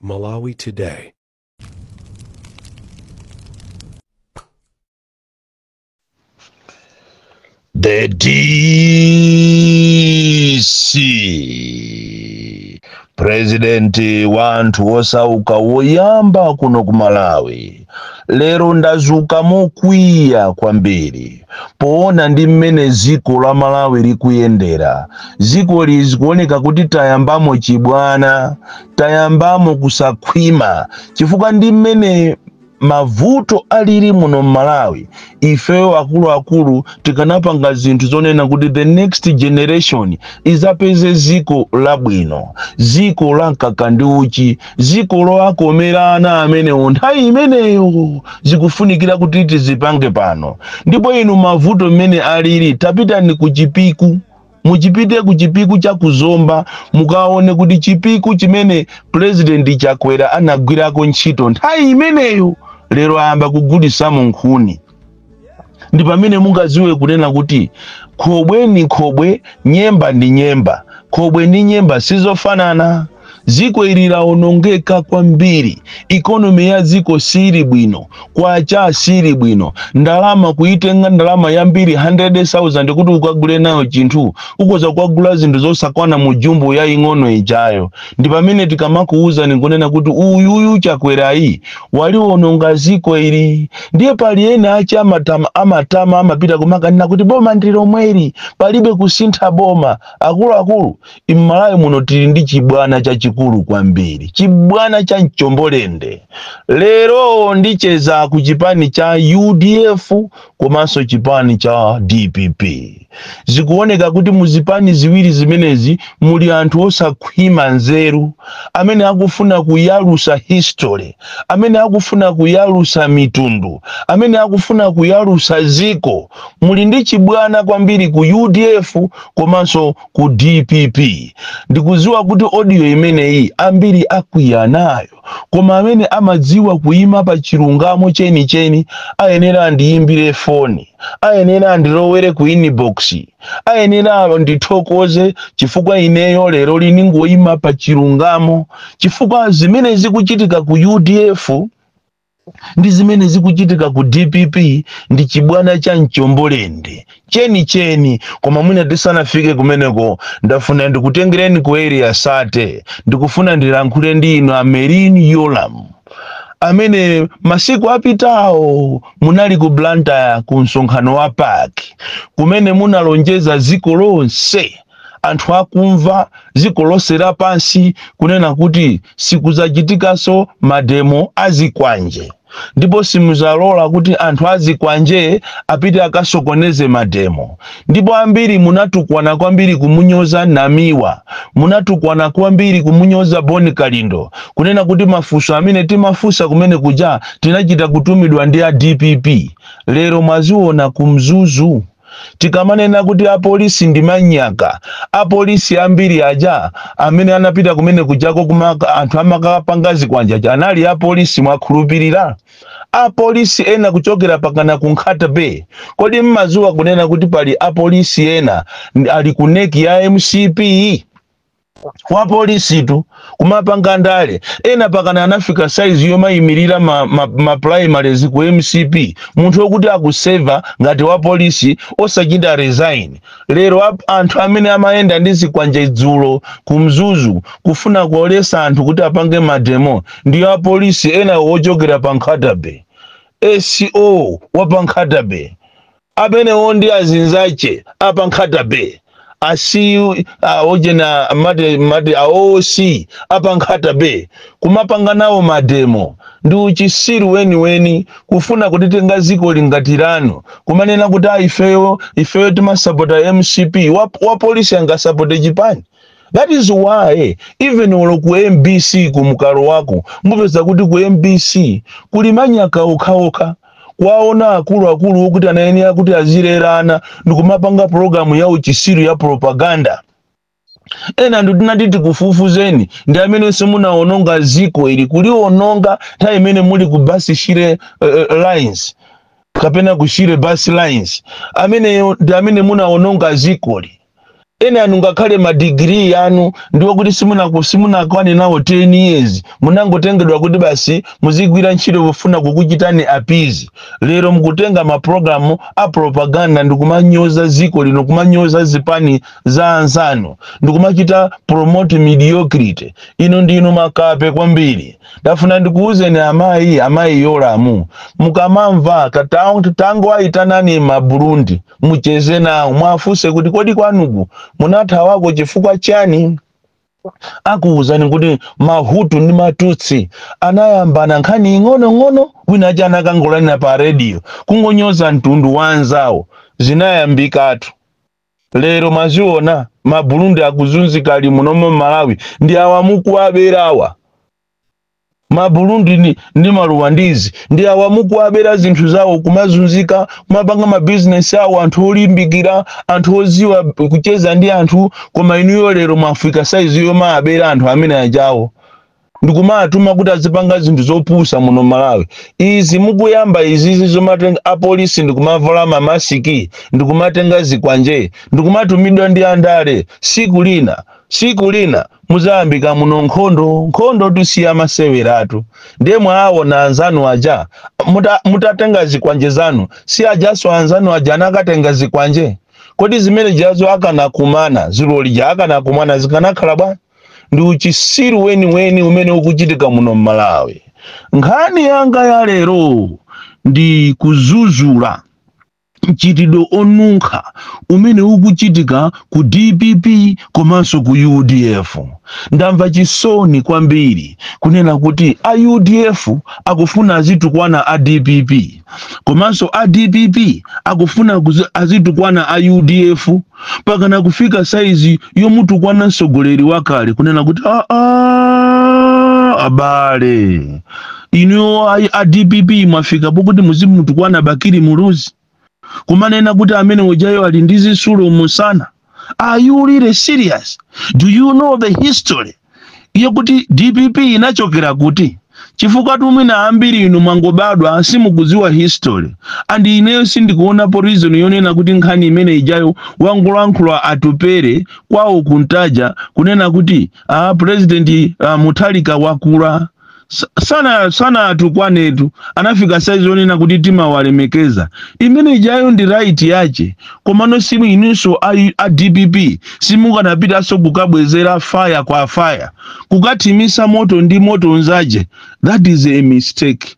Malawi Today. The DC president wa anthu osauka woyamba kuno ku Malawi lero ndazuka mokwiya kwambiri poona ndi mmene dziko la malawi likuyendera dziko ili zikuoneka kuti tayambamo chibwana tayambamo kusakhwima chifukwa ndi mmene mavuto alili muno mmalawi ifeyo akuluakulu tikanapanga zinthu zonena kuti the next generation izapeze ziko labwino ziko la mkaka ndi uchi ziko lowakomera ana amenewo nthawi imeneyo zikufunikira kuti tizipange pano ndipo inu mavuto mmene alili tapitani ku chipiku muchipite ku chipiku cha ku zomba mukaone kuti chipiku chimene purezidenti chakwera anagwirako ntchito nthawi imeneyo lero ayamba kugulitsamo nkhuni ndi pamene mungaziwe kunena kuti khobwe ni khobwe nyemba ndi nyemba khobwe ndi nyemba sizofanana Dziko ili lawonongeka kwambiri, economy ya dziko siili bwino, kwacha siili bwino, ndalama kuitenga ndalama yambiri 100,000 kuti ukagule nayo chinthu ukoza kukagula zinthu zosakwana mu jumbo yaing'ono ijayo. Ndi pamene tikamakuwuzani kunena kuti uyuyu Chakwerayi waliwononga dziko ili. Ndiye pali ena ache amatama amapita kumakanena kuti boma ndi lomweli, palibe kusintha boma. Akuluakulu, mmalawi muno tili ndi chibwana chachikulu kwambiri chibwana cha mchombolende lero ndicheza ku chipani cha udf komanso chipani cha dpp zikuoneka kuti muzipani ziwiri zimenezi muli anthu osakhwima nzeru amene akufuna kuyalusa history amene akufuna kuyalusa mitundu amene akufuna kuyalusa ziko muli ndi chibwana kwambiri ku udf komanso ku dpp ndikuziwa kuti audio imeneyi ambiri akwiya nayo koma amene amadziwa kuyima pa chilungamo chenicheni ayenera andiyimbire foni ayenera andilowere ku inbox ayenera andithokoze chifukwa ineyo leroli ningoyima pa chilungamo chifukwa zimene zikuchitika ku udf ndi zimene zikuchitika ku dpp ndi chibwana cha mchombo lende chenicheni koma mwina tisanafike kumeneko ndafuna ndikutengereni ku area 30 ndikufuna ndilankhule ndi inu a merlyne yolamu amene masiku apitawo munali ku blantyre ku msonkhano wa pac kumene munalonjeza dziko lonse anthu akumva dziko lonse lapansi kunena kuti sikudzachitikanso mademo azikwanje ndipo simuzalola kuti anthu azikwanje apite akasokoneze mademo ndipo ambiri munatukwana kwambiri kumunyoza namiwa munatukwana kwambiri kumunyoza boni kalindo kunena kuti mafunso amene timafunsa kumene kuja tinachita kutumidwa ndi a dpp lero mwaziona ku mzuzu Tikamanena kuti apolisi ndi manyaka, apolisi ambiri aja amene anapita kumene kujako kuma anthu amakapanga zikwanje aja anali apolisi mwakhulupirira? Apolisi ena kuchokera pakana ku Nkhata Bay, kodi mmadziwa kunena kuti pali apolisi ena ali ku NEC ya mcp? wa polisitu kumapanga ndale ena pakana anafika saizi yomayimirira ma, ma, ma primaries ku mcp munthu okuti akuseva ngati wa polisi osachita resign lero ap- anthu amene amayenda ndi zikwanje dzulo ku mzuzu kufuna kuwaletsa anthu kuti apange mademo ndi apolisi ena wochokera pa nkhata bay oc wa pa nkhata bay Amenewo ndi azinzache apa nkhata bay asi a ojena mati mati a OC apa nkhata bay kumapanga nawo mademo ndi uchisiru weniweni kufuna kulitenga zikoli ngati lanu kumanena kuti a ifeyo ifeyo timasapota mcp wa, wa polisi angasapote chipani that is why even olo ku mbc kumkalowako mupeza kuti ku mbc kuli manyaka okhaokha kuwaona akuluakulu okuti anayenera kuti azilera ana ndikumapanga pulogalamu ya uchisiru ya propaganda ena ndi tinati tikufufuzeni ndi amene munaononga ziko ili kuliwononga nthawi imene muli ku bus shire uh, lines kapena ku shire bus lines ameneyo ndi amene munaononga zikoli enanu ngakhale madigiri anu ndi okuti simunaku- simunakwane nawo 10 years munangotengedwa kuti basi muzigwira ntchito pofuna kukuchitani appease lero mukutenga mapulogalamu a propaganda ndikumanyoza ziko lino kumanyoza zipani za anzanu ndikumachita promote mediocrity inu ndinu makape kwambiri ndafuna ndikuwuzeni amayi amayi yolamu mukamamva katang- tangowayitanani maburundi mucheze nawo muwafunse kuti kodi kwanuku munathawako chifukwa chani akuwuzani kuti mahutu ndi matutsi anayambana nkhani ing'onong'ono wina aja anakangolalira pa rediyo kungonyoza mtundu wa anzawo zinayambikatu, lero mwaziona mabulundi akuzunzika ali munomo m'malawi ndi awa mukuwaberawa maBurundi ndi, ndi maRwandizi ndi awa mukuwabera zinthu zawo kumazunzika kumapanga mabizinesi awo anthu olimbikira anthu oziwa kucheza ndi anthu koma inuyo lero mwafika saizi yomawabera anthu amene ajawo ndikumatuma kuti azipanga zinthu zopusa muno malawi izi mukuyamba izizi zomatenga apolisi ndikumavala mamasiki ndikumatenga zikwanje ndikumatumidwa ndi andale siku lina Siku lina mudzayambika muno nkhondo, nkhondotu si yamaseweratu, ndiye mwaawona anzanu aja muta, mutatenga zikwanje zanu, si ajaso anzanu aja anakatenga zikwanje? Kodi zimene zijazo akanakumana dzulo lija akanakumana zikanakhala bwa? Ndi uchisiru weniweni umene ukuchitika muno m'Malawi. Nkhani yanga ya lero ndi kuzuzula. mchitidwe onunkha umene ukuchitika ku dpp komanso ku udf. Ndamva chisoni kwambiri kunena kuti a udf akufuna azitukwana a dpp komanso a dpp akufuna azitukwana a udf. mpakana kufika saizi yomutukwana mtsogoleri wakale kunena kuti aa abale inuyo ayi a dpp mwafika pokuti muzimutukwana bakili muluzi kumanena kuti amene ujayo ali ndi zitsulo mumsana are you really serious do you know the history yokuti dpp inachokera kuti chifukwatu mwina ambiri inu mwangobadwa simukudziwa history and ineyo sindikuonapo reason yonena kuti nkhani imene ijayo wangolankhula atupere kwawo kuntaja kunena kuti ah, president ah, muthalika wakula Sa- sana sanatukwanetu anafika saizi yonena kuti timawalemekeza imene ijayo ndi right yache komano simu inunso a, a dpp simukanapitanso kukabwezera faya kwa faya kukathimisa moto ndi moto nzache that is a mistake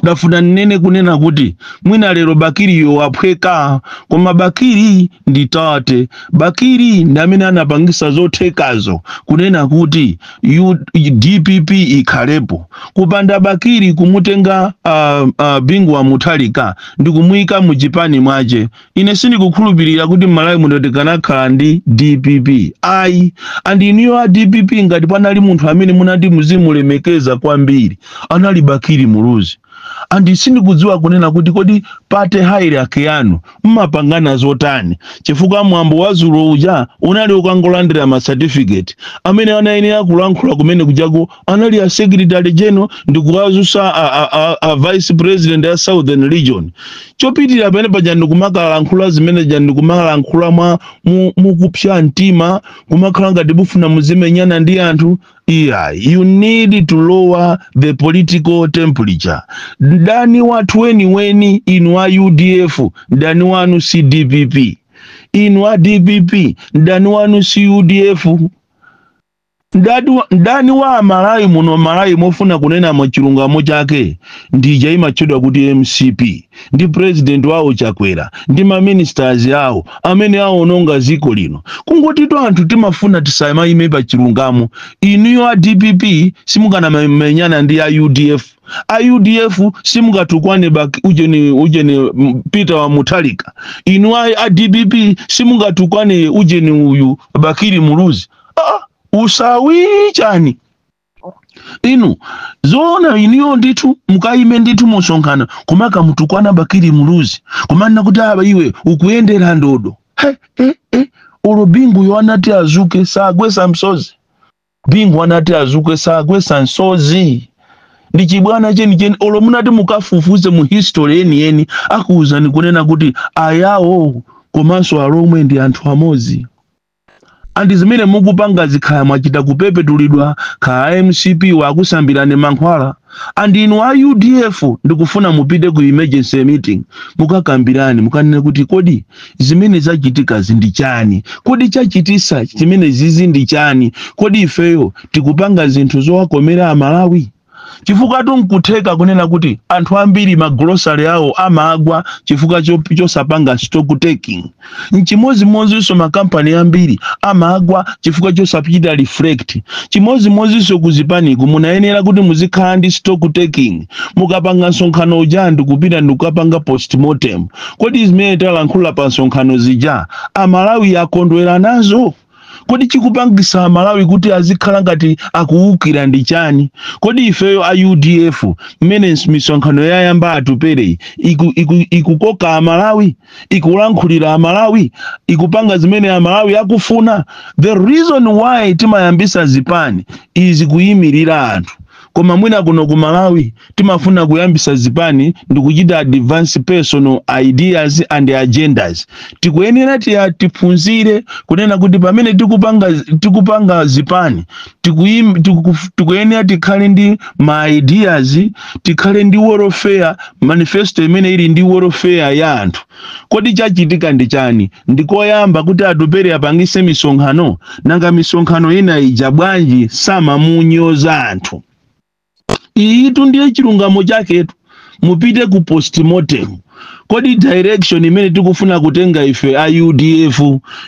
ndafuna nnene kunena kuti mwina lero bakiriyo waphweka koma bakiri ndi tate bakiri ndi amene anapangisa zothekazo kunena kuti U- dpp ikhalepo kupanda bakiri kumutenga uh, uh, bingu wa muthalika ndi kumuyika mu chipani mwache Ine sindikukhulupilira kuti m'Malawi muno tikanakhala ndi dpp ayi and inuyo a dpp ngati panali munthu amene mumati muzimulemekeza kwambiri anali Bakili Muluzi and sindikudziwa kunena kuti kodi party hierarchy yanu mmapangana zotani chifukwa mwambo wa dzulo uja unali okangolandira ma certificate amene anayenera kulankhula kumene kujako anali a secretary general ndikuwazusa a, a, a, a vice president a southern region chopitira pamene paja ndikumakalankhula zimene zija ndikumakalankhula mwa mu- mukupsa mtima kumakhala ngati mufuna muzimenyana ndi anthu iyayi you need to lower the political temperature mdani wathu weniweni inu a udf mdani wanu si dpp inu a dpp mdani wanu si udf Mdani wa- mdani wa amalawi muno m'malawi mofuna kunena mwachilungamo chake ndija imatchedwa kuti mcp ndi president wawo chakwera ndi maministers awo amene awononga dziko lino kungoti anthu timafuna tisamaime pa chilungamo inuyo a dpp simungamenyane ndi a udf a udf simungatukwane bak ujeni ujeni mm, peter wa muthalika inu a, a dpp simungatukwane ujeni uyu bakili muluzi ah, usavi chani inu zoona inuyo ndithu mukaime ndithu mumsonkhano kumakamutukwana bakili muluzi kumanena kuti aa iwe ukuyendera ndodo he he he olo binguyo anati azuke sagwesa msozi bingu anati azuke sagwesa msozi ndi chibwana chenicheni olo munati mukafufuze mu history yeniyeni akuwuzani kunena kuti ayawo komanso alomwe ndi anthu amodzi and zimene mukupangazi kaya mwachita kupepetulidwa kaya mcp wakusambirani mankhwala and inu a udf ndikufuna mupite ku emergency meeting mukakambirane mukanene kuti kodi zimene zachitikazi ndi chani kodi chachitisa chimene zizi ndi chani kodi ifeyo tikupanga zinthu zowakomera amalawi chifukwatu nkutheka kunena kuti anthu ambiri magulosale awo amagwa chifukwa cho- chosapanga stock taking nchimodzimodzinso makampani ambiri amagwa chifukwa chosachita reflect chimodzimodzinso kuzipaniku munayenera kuti muzikhala ndi stock taking mukapanga msonkhano uja ndikupita ndikukapanga postmortem kodi zimene talankhula pa msonkhano zija amalawi akondwera nazo kodi chikupangisa amalawi kuti azikhala ngati akuwukira ndi chani kodi ifeyo a udf mmene ns- misonkhano yayamba atupereyi iku- iku- ikukoka amalawi ikulankhulira amalawi ikupanga zimene amalawi akufuna the reason why timayambisa zipani is kuyimirira anthu koma mwina kuno ku malawi timafuna kuyambisa zipani ndikuchita advance personal ideas and agendas tikuyenera tiya tiphunzire kunena kuti pamene tikupanga tikupanga zipani tikuim- tiku- tikuyenera tikhale ndi ma ideas tikhale ndi welfare manifesto imene ili ndi welfare ya anthu kodi chachitika ndi chani ndi koyamba kuti Atupele apangitse misonkhano nanga misonkhano ina ija bwanji samamunyoza anthu iyitu ndiye chilungamo chaketu mupite ku postmortem kodi direction imene tikufuna kutenga ife a udf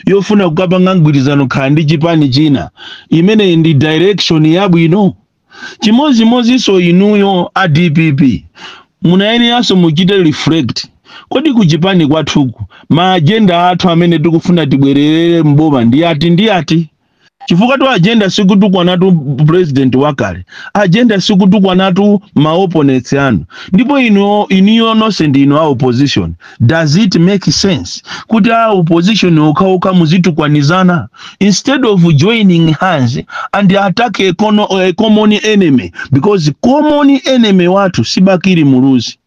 yofuna kukapanga mgwirizano kukhala ndi chipani china imeneyi ndi direction yabwino chimodzimodzinso inuyo a dpp munayeneranso muchite reflect kodi kuchipani kwathuku ma agenda athu amene tikufuna tibwererere mboma ndi ati ndi ati chifukwatu agenda sikutukwanatu president wakale agenda sikutukwanatu ma opponents anu ndipo inu inuyo nonse ndi inu a opposition does it make sense kuti a opposition okhaokha muzitukwanizana instead of joining hands and attack a common enemy because common enemy wathu si bakili muluzi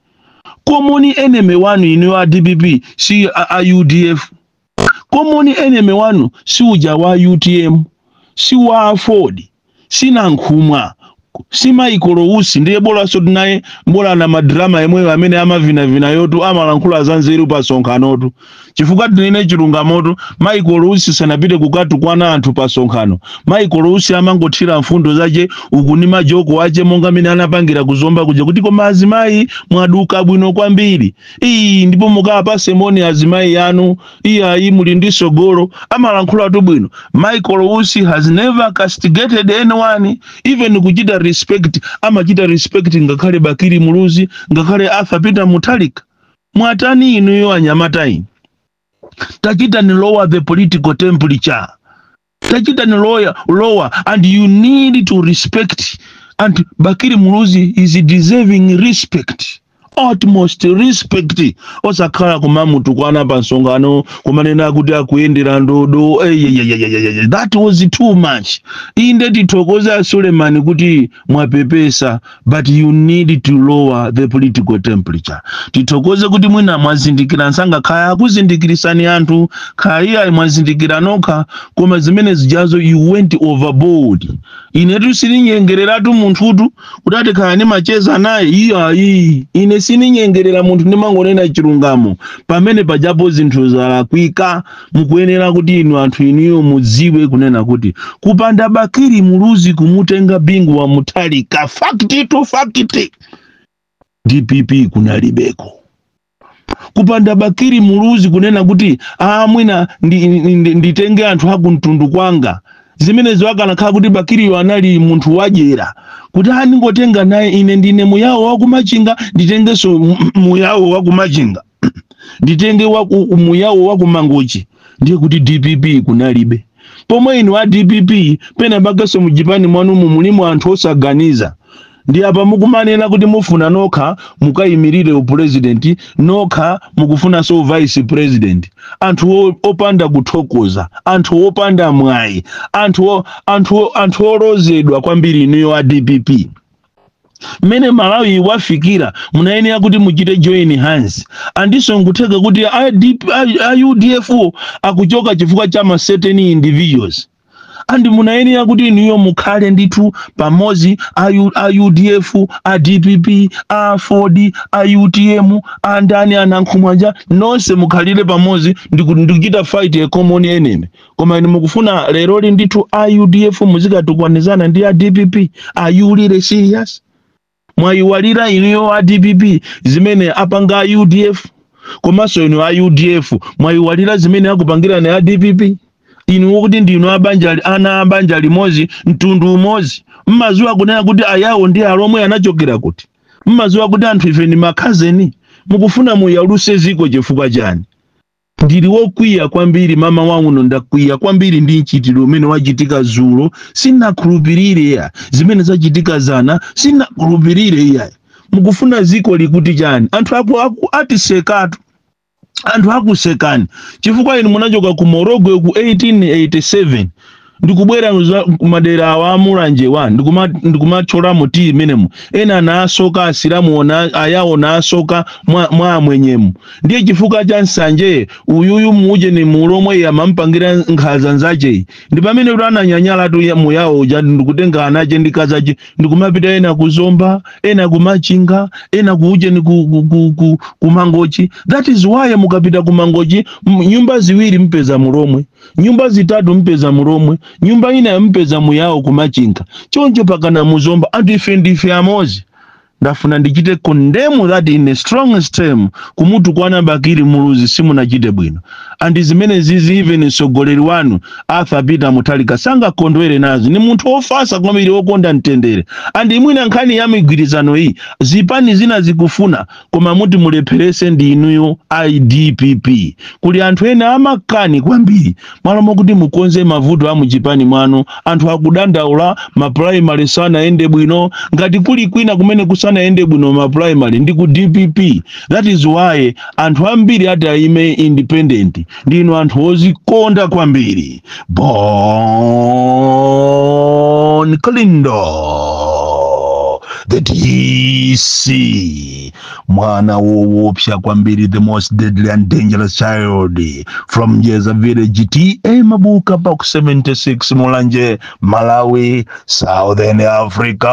common enemy wanu inu a dpp si a, a udf common enemy wanu si uja wa utm si wa aford si nankhumwa si Michael Usi ndiye bolansotu naye mbola na madrama yemweyo amene amavinavinayotu amalankhula za nzeru pa sonkhanotu chifukwa tinene chilungamotu Michael Usi sanapite kukatukwana anthu pa sonkhano Michael Usi amangothira mfundo zake uku ndi majoke ake monga mene anapangira kuzomba kuja kuti koma azimayi mwaduka bwino kwambiri Iii ndipo mukawapatse moni azimayi anu iyayi muli ndi tsogolo amalankhulatu bwino Michael Usi has never castigated anyone even kuchita respect amachita respect ngakhale Bakili Muluzi ngakhale Arthur Peter Mutharika mwatani inuyo anyamata inu tachitani lower the political temperature tachitani lower and you need to respect and bakili muluzi is deserving respect utmost respect osakhala kumamutukwana pa msonkhano kumanena kuti akuyendera ndodo eyeyeyeyeye that was too much inde tithokoze a sulemani kuti mwapepesa but you need to lower the political temperature tithokoze kuti mwina mwazindikira msanga kaya akuzindikiritsani anthu kaya mwazindikira nokha koma zimene zijazo you went overboard inetu sininyengereratu munthutu kuti ati kaya ndimacheza naye iyayi ine sininyengerera munthu ndimangonena chilungamo pamene pajapo zinthu zalakwika mukuyenera kuti inu anthu inuyo mudziwe kunena kuti kupanda bakili muluzi kumutenga bingu wa mutharika fact to fact dpp kunalibeko kupanda bakili muluzi kunena kuti "Ah, mwina ndi- ndi- ndi- nditenge anthu akumtundu kwanga zimenezo akanakhala kuti bakiliyo anali munthu wadyera kuti ah ndingotenga naye ine ndine muyawo wakumachinga nditengenso mu- muyawo wakumachinga nditenge wa umuyawo wakumangochi ndiye kuti dpp kunalibe pomwe inu a dpp pena pakenso mujipani mwanumu mulimo anthu osaganiza ndi apa mukumanena kuti mufuna nokha mukayimirire upulezidenti nokha mukufunanso uvice pulezidenti anthu o- opanda kuthokoza anthu opanda mwayi anthu o- anthu o- anthu olozedwa kwambiri inuyo a dpp mmene malawi wafikira munayenera kuti muchite join hands andiso nkutheka kuti a, DP, a, a udf wo akuchoka chifukwa cha ma certain individuals and munayenera kuti inuyo mukhale ndithu pamodzi a U- a udf a dpp aford a utm andani anankhumwanja nonse mukhalire pamodzi ndiku- ndikuchita fight a common enemy koma inu mukufuna leroli ndithu a udf muzikatukwanizana ndi a dpp are you really serious mwayiwalira inuyo a dpp zimene apanga a udf komanso inu a udf mwayiwalira zimene akupangirani a dpp inu kuti ndinu abanja li- ana abanja limodzi mtundu umodzi mmaziwa kunena kuti ayawo ndi alomwe anachokera kuti mmaziwa kuti anthu ife ndi makhazeni mukufuna muyaluse ziko chifukwa chani ndili wokwiya kwambiri mama wangu ndakwiya kwambiri ndi mchitidwe umene wachitika zulo sinakhulupirire iya zimene zachitika zana sinakhulupirire iya mukufuna ziko likuti chani anthu aku, aku atisekatu anthu akusekani chifukwa inu munachoka ku morogwe ku 1887 ndikubwera za- kumadera awa amulanje wa ndikuma- ndikumatchola mu tiyi imenemu ena anaasoka asilamu ona- ayawo naasoka mwa, mwa amwenyemu ndiye chifukwa cha nsanje uyuyu ujeni mulomwe iye amampangira nkhaza nzacheyi ndi pamene kuti ananyanyala tu ya- muyawo uja ndikutenga anache ndi akazache ndikumapita ena kuzomba ena kumachinga ena kuujeni ku, ku, ku, ku, kumangochi that is why mukapita kumangochi m- nyumba ziwiri mpeza mulomwe nyumba zitatu mpeza mulomwe nyumba inayo mpeza muyawo kumachinga choncho pakana muzomba anthu ife ndife amozi ndafuna ndichite condemn that in the strongest term kumutukwana bakili muluzi simunachite bwino and zimene zizi even mtsogoleri wanu arthur peter mutharika sangakondwere nazo ni munthu ofasa kwambiri okonda mtendere and imwina nkhani ya migwirizano iyi zipani zina zikufuna koma muti mulepherese ndi inuyo a dpp kuli anthu ena amakani kwambiri mmalo mokuti mukonze mavuto a muchipani mwanu anthu akudandaula mapulaimali sanayende bwino ngati kuli kwina kumene kusanayende bwino mapulaimali ndi ku dpp that is why anthu ambiri ati ayime independent ndinu anthu ozikonda kwambiri bon kalindo the dc mwana wowopsa kwambiri the most deadly and dangerous child from jeza village ta mabuka box 76 mulanje malawi southern africa